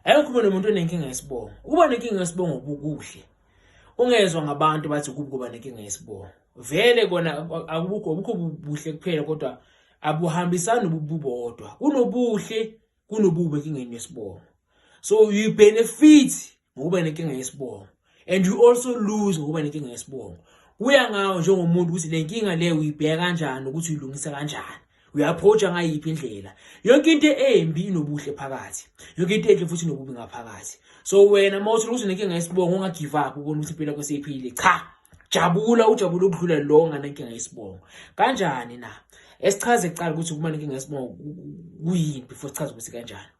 Ayikho umuntu umuntu onenkinga yesibongo. Ukuba nenkinga yesibongo ubukuhle. Ungezwa ngabantu bathi kubi kuba nenkinga yesibongo. Vele kona akubukho ubukho buhle kuphela kodwa abuhambisani ububodwa. Kunobuhle kunobubi enkingeni yesibongo. So you benefit ngokuba nenkinga yesibongo. and you also lose ngokuba nenkinga yesibongo kuya ngawo njengomuntu ukuthi le nkinga le uyibheka kanjani ukuthi uyilungisa kanjani uyaphoja ngayiphi indlela yonke into embi inobuhle phakathi yonke into enhle futhi inobubi ngaphakathi so wena uma uthi ukuthi nenkinga yesibongo ungagive up ukona ukuthi impilo yakho seyiphilile cha jabula ujabula ukudlula lo nganenkinga yesibongo kanjani na esichaze kuqala ukuthi kuba nenkinga yesibongo kuyini before sichaze ukuthi kanjani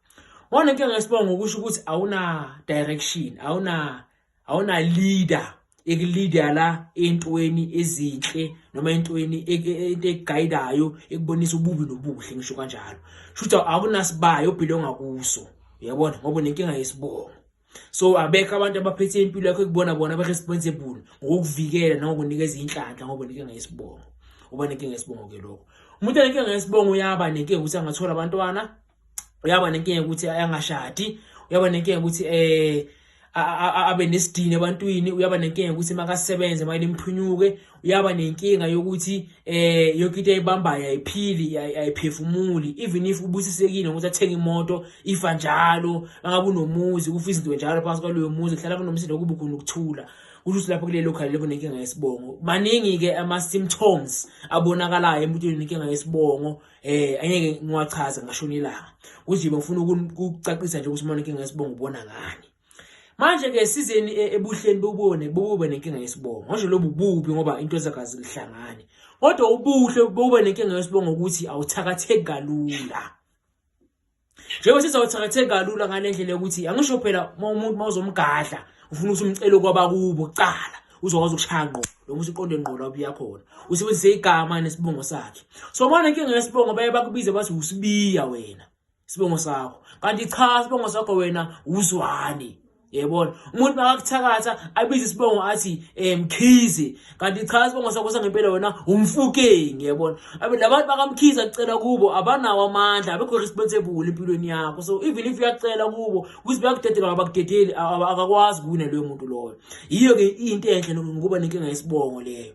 Wona into ngesibongo ukusho ukuthi awuna direction, awuna awuna leader ekuleader la entweni ezinhle noma entweni e, e, e, into eguidayo ekubonisa ububi nobuhle ngisho kanjalo. Shutha awunasibayo obhilonga kuso. Uyabona ngoba nenkinga yesibongo. so abekho abantu abaphethe impilo yakho ekubona bona ba-responsible ngokukuvikela nangokunikeza inhlanhla ngoba nenkinga yesibongo uba nenkinga yesibongo ke lokho umuntu anenkinga yesibongo uyaba nenkinga ukuthi angathola abantwana uyaba nenkinga ukuthi ayangashadi uyaba nenkinga ukuthi eh abe nesidini ebantwini uyaba nenkinga ukuthi makasebenze manje imphunyuke uyaba nenkinga yokuthi eh yonke into ayibambayo ayiphili ayiphefumuli even if ubusisekile ukuthi athenge imoto ifa njalo angabe unomuzi kufa izinto njalo phansi kwaloyo muzi kuhlala kunomsindo kuba khona ukuthula kusho ukuthi lapho kulelo khali lebo nenkinga yesibongo baningi ke ama symptoms abonakalayo emntwini nenkinga yesibongo eh angeke ngiwachaze ngashona ilanga uzibe ufuna ukucacisa nje ukuthi umonike ngesibongo ubona ngani manje ke sizeni e, ebuhleni bobone bobube nenkinga yesibongo ngisho lobu bubi ngoba into zakazi lihlangane kodwa ubuhle bobube nenkinga yesibongo ukuthi awuthakatheki kalula njengoba sizawuthakathe kalula ngale ndlela yokuthi angisho phela uma umuntu uma uzomgadla ufuna ukuthi umcele kwabakubo kucala uzokwazi ukushaya ngqo noma usuqonde ngqo la ubuya khona usebenzise igama nesibongo sakhe so manje inkinga yesibongo baye bakubize bathi usibiya wena isibongo sakho kanti cha isibongo sakho wena uzwane yebona umuntu makakuthakatha abize isibongo athi um mkhize kanti cha isibongo sakho sangempela wena umfukeng yebona labantu bakamkhize kucela kubo abanawo amandla abekho responsible empilweni yakho so even if uyakucela kubo ukuthi bayakudedela ngabakudedeli akakwazi kuwina loyo muntu loyo yiyo-ke into enhle ngokuba nenkinga yesibongo leyo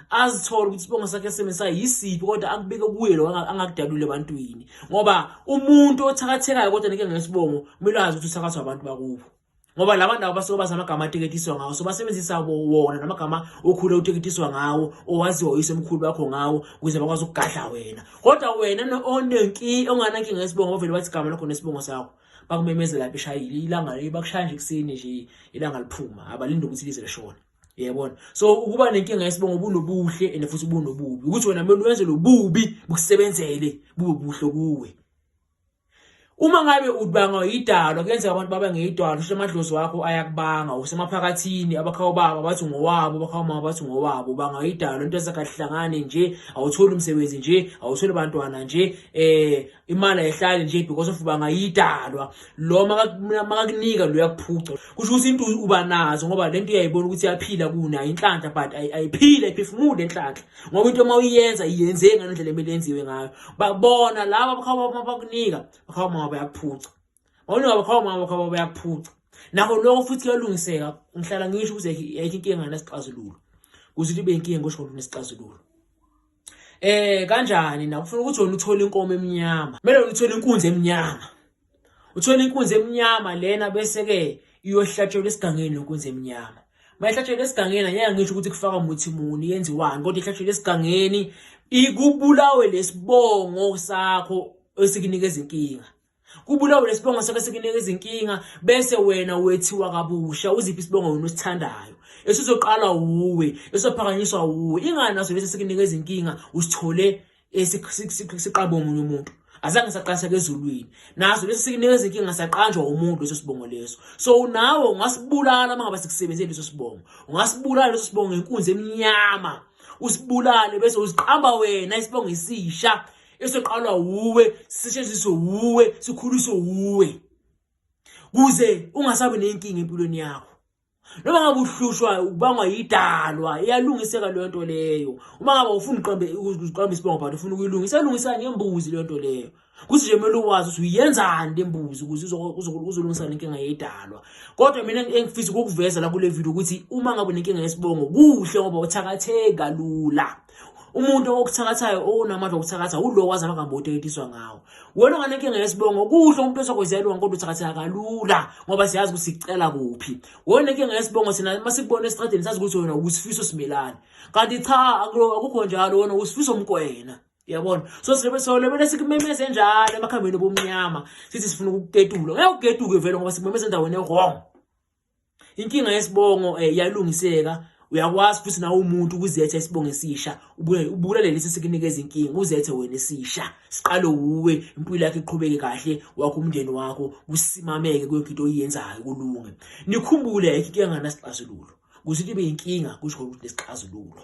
azithole ukuthi isibongo sakhe esebenzisa yisiphi kodwa akubeke kuye lo angakudalule ebantwini ngoba umuntu othakathekayo kodwa nike ngesibongo kumele azi ukuthi uthakathwa abantu bakubo ngoba laba ndawo basuke bazi amagama ateketiswa ngawo so basebenzisa wona namagama okhule uteketiswa ngawo owaziwa uyise omkhulu wakho ngawo ukuze bakwazi ukugadla wena kodwa wena onenkinga onganankinga yesibongo bavele bathi igama lakho nesibongo sakho bakumemezela phi shayile ilanga bakushaya nje ekuseni nje ilanga liphuma abalinde ukuthi lize lishone yebona so ukuba nenkinga yesibongo bunobuhle and futhi bunobubi ukuthi wena kumele wenze lobubi bukusebenzele bube buhle kuwe uma ngabe udbanga idalo kuyenzeka abantu baba ngeyidalo usho amadlozi wakho ayakubanga usemaphakathini abakhawu baba bathi ngowabo abakhawu mama bathi ngowabo banga idalo into ezakahlangane nje awutholi umsebenzi nje awutholi bantwana nje eh imali ayihlali nje because of banga idalwa lo makakunika lo uyakuphuca kusho ukuthi into uba nazo ngoba lento uyayibona ukuthi iyaphila kuna inhlanhla but ayiphile iphefumude inhlanhla ngoba into uma uyenza iyenze ngale ndlela emele yenziwe ngayo babona laba bakhawa uma bakunika bakhawa mama bayakuphuca bawunika bakhawa mama bakhawa bayakuphuca nakho lokho futhi kuyalungiseka ngihlala ngisho ukuthi ayikho inkinga ngesixazululo kuze libe inkinga ngosho ngesixazululo Eh kanjani na ufuna ukuthi wena uthole inkomo emnyama. Kumele wena uthole inkunzi emnyama. Uthole inkunzi emnyama lena bese ke iyohlatshelwa esigangeni lenkunzi emnyama. Mayihlatshelwa esigangeni ngeke ngisho ukuthi kufaka umuthi muni yenziwani kodwa ihlatshelwa esigangeni ikubulawe lesibongo sakho esikunikeza inkinga. kubulawe lesibongo sakhe sekunika izinkinga bese wena wethiwa kabusha uziphi isibongo wena usithandayo esizoqala wuwe esophakanyiswa wuwe ingani naso lesi sekunika izinkinga usithole siqabo omunye umuntu azange saqashaka ezulwini naso lesi sikunika izinkinga saqanjwa umuntu leso sibongo leso so nawe ungasibulala uma ngaba sikusebenzeli leso sibongo ungasibulala leso sibongo ngenkunzi emnyama usibulale bese uziqamba wena isibongo isisha esiqalwa wuwe sisetshenziswe wuwe sikhuliswe wuwe kuze ungasabi nenkinga empilweni yakho noma ngabe uhlushwa ukubangwa yidalwa iyalungiseka leyo nto leyo uma ngabe ufuna uqambe uqambe isibongo but ufuna ukuyilungisa elungisa ngembuzi leyo nto leyo kuthi nje kumele uwazi ukuthi uyenzani le mbuzi ukuze uzolungisa le nkinga yedalwa kodwa mina engifisa ukukuveza la kule video ukuthi uma ngabe unenkinga yesibongo kuhle ngoba uthakatheka lula umuntu okuthakathayo onamandla okuthakatha ulo wazalwa ngamboto eyetiswa ngawo wena onganenkinga yesibongo kuhle umuntu osokwezelwa kodwa uthakatheka kalula ngoba siyazi ukuthi sicela kuphi wena onenkinga yesibongo sina uma sikubona esitradeni sazi ukuthi wena usifiso simelane kanti cha akukho njalo wena usifiso mkwena yabona so sibe solebele sikumemeze njalo emakhambeni obumnyama sithi sifuna ukuketulo ngeke uketuke vele ngoba sikumemeze endaweni ewrong inkinga yesibongo eh, iyalungiseka uyakwazi futhi nawe umuntu ukuzetha isibongo esisha ubulale lesi sikunikeza inkinga uzethe wena esisha siqale wuwe impilo yakhe iqhubeke kahle wakho umndeni wakho kusimameke kuyonke into oyenzayo kulunge nikhumbule ayikho into enganasixazululo kuze kube inkinga kusho ukuthi nesixazululo